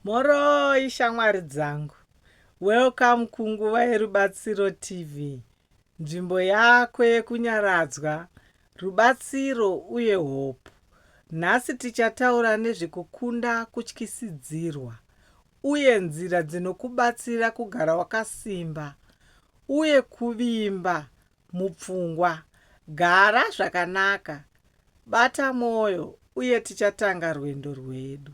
Mhoroi shamwari dzangu. Welcome kunguva yerubatsiro TV. Nzvimbo yako yekunyaradzwa, rubatsiro uye hope. Nhasi tichataura nezvekukunda kutyisidzirwa uye nzira dzinokubatsira kugara wakasimba uye kuvimba mupfungwa. Gara zvakanaka, bata mwoyo, uye tichatanga rwendo rwedu.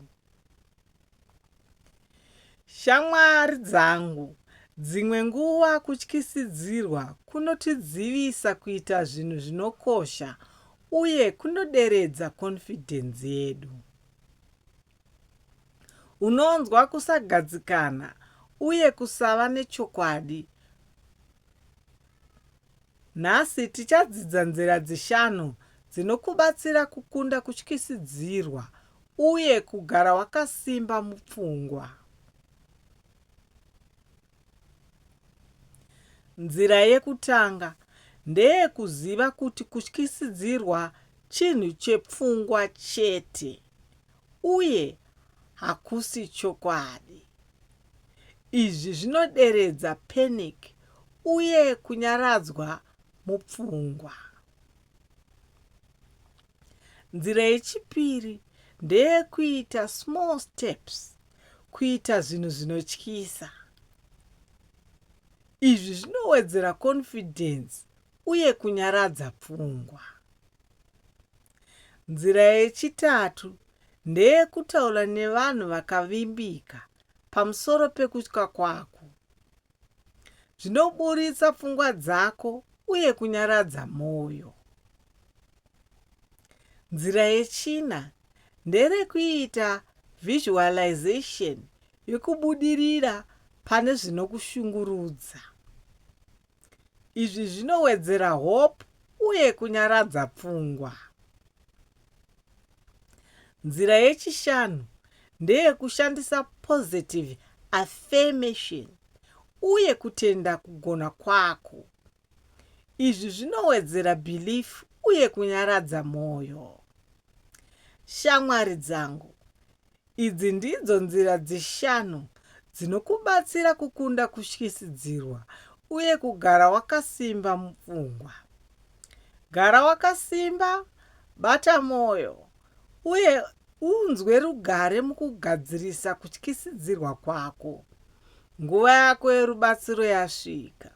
Shamwari dzangu, dzimwe nguva kutyisidzirwa kunotidzivisa kuita zvinhu zvinokosha uye kunoderedza konfidhenzi yedu. Unonzwa kusagadzikana uye kusava nechokwadi Nhasi tichadzidza nzira dzishanu dzinokubatsira kukunda kutyisidzirwa uye kugara wakasimba mupfungwa. Nzira yekutanga ndeyekuziva kuti kutyisidzirwa chinhu chepfungwa chete uye hakusi chokwadi. Izvi zvinoderedza panic uye kunyaradzwa mupfungwa. Nzira yechipiri ndeyekuita small steps, kuita zvinhu zvinotyisa. Izvi zvinowedzera confidence uye kunyaradza pfungwa. Nzira yechitatu ndeyekutaura nevanhu vakavimbika pamusoro pekutya kwako. Zvinoburitsa pfungwa dzako uye kunyaradza mwoyo. Nzira yechina nderekuita visualization yekubudirira pane zvinokushungurudza. Izvi zvinowedzera hope uye kunyaradza pfungwa. Nzira yechishanu ndeyekushandisa positive affirmation uye kutenda kugona kwako. Izvi zvinowedzera belief uye kunyaradza mwoyo. Shamwari dzangu, Idzi ndidzo nzira dzishanu dzinokubatsira kukunda kutyisidzirwa uye kugara wakasimba mupfungwa. Gara wakasimba, bata mwoyo, uye unzwe rugare mukugadzirisa kutyisidzirwa kwako. Nguva yako yerubatsiro yasvika.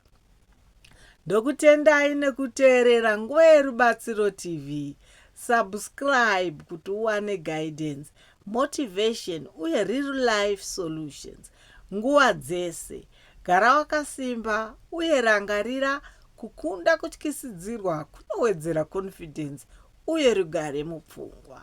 Ndokutendai nekuteerera Nguva yeRubatsiro TV. Subscribe kuti uwane guidance Motivation uye real life solutions nguva dzese. Gara wakasimba uye rangarira kukunda kutyisidzirwa kunowedzera confidence uye rugare mupfungwa.